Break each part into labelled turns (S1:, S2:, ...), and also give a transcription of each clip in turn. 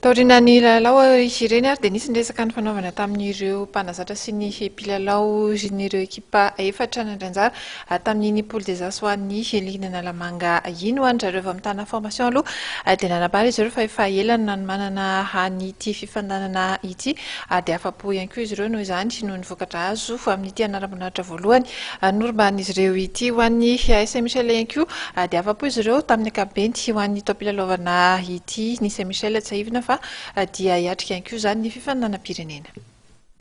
S1: Taorian'ny lalao izy ireny ary dia nisy ny resaka nifanaovana tamin'ireo mpanazatra sy ny mpilalao ireo ekipa efatra nandray anjara tamin'iny Poule des As ho an'ny Ligue an'Analamanga iny. Ho an-dry zareo avy amin'ny Tana Formation aloha dia nanambara izy ireo fa efa ela no nanomanana an'ity fifandanana ity ary dia afa-po ihany koa izy ireo noho izany noho ny vokatra azo amin'ity anaram-boninahitra voalohany Norombahan'izy ireo ity ho an'ny AS Saint-Michel ihany koa dia afa-po izy ireo tamin'ny ankapobeny ho an'ny taom-pilalaovana ity. Ny Saint-Michel tsiahivina fa dia hiatrika ihany koa izany ny fifaninanam-pirenena.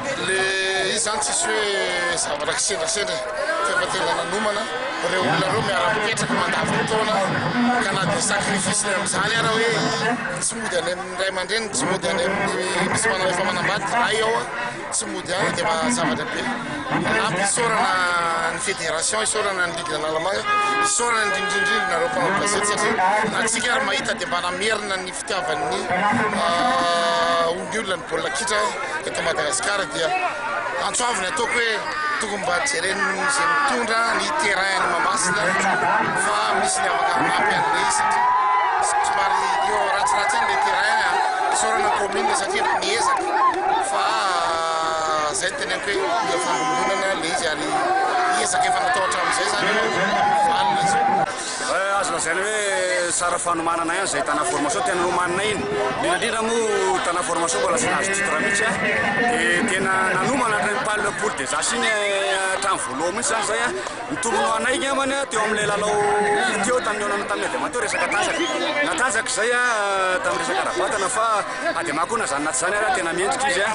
S2: Ilay izy izany tsisy hoe zavatra kisendrasendra e, fa efa tena nanomana, ireo olona ireo miara-mipetraka mandavon-taona ka na dia sacrifice ny amin'izany ara hoe tsy mody any amin'ny ray aman-dreny, tsy mody any amin'ny misy manao efa manambady, ray ao a. Tsy mody any dia mahazavatra be. Manampy isaorana ny fédération, isaorana ny ligue Analamanga, isaorana indrindrindrindra nareo mpanao gazety satria antsika ary mahita dia mba namerina ny fitiavan'ny olona ny baolina kitra eto Madagasikara dia antso avo ny ataoko hoe. Tokony mba jeren'izay mitondra ny terrain any Mahamasina fa misy ny afaka manampy an'ilay satria somary eo ratsiratsy eny ilay terrain isaorana ny commune satria efa miezaka fa izay no teneniko hoe mila fandombonana ilay izy ary ezaka efa natao hatramin'izay izany valiny izy. Azo lazaina
S3: hoe sara fanomanana ihany izay tana formation tena nomanina iny. Indrindra indrindra moa tana formation mbola tsy nahazo titre mihitsy an. Dia tena nanomana hatrany pal poule des as iny hatrany voalohany mihitsy izany izay an. Nitombony ho anay angambany an teo amin'ilay lalao teo tamin'ny olana tamin'ny adiamaha teo resaka tanjaka. Natanjaka izay an tamin'ny resaka ara-batana fa adiamaha koa na izany na tsy izany ary an tena mendrika izy an.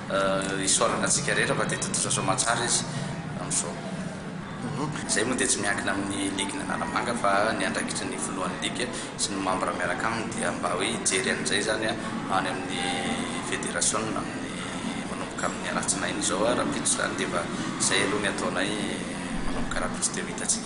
S4: Isaorana antsika rehetra fa dia tontosa soamantsara izy amin'izao. Izay moa dia tsy miankina amin'ny ligny Analamanga fa ny andraikitry ny filohan'ny ligy sy ny mambra miaraka aminy dia mba hoe hijery an'izay izany any amin'ny federasiona amin'ny manomboka amin'ny alatsinainy izao rahampitso izany dia efa izay aloha ny ataonay manomboka rahampitso dia ho hitantsika.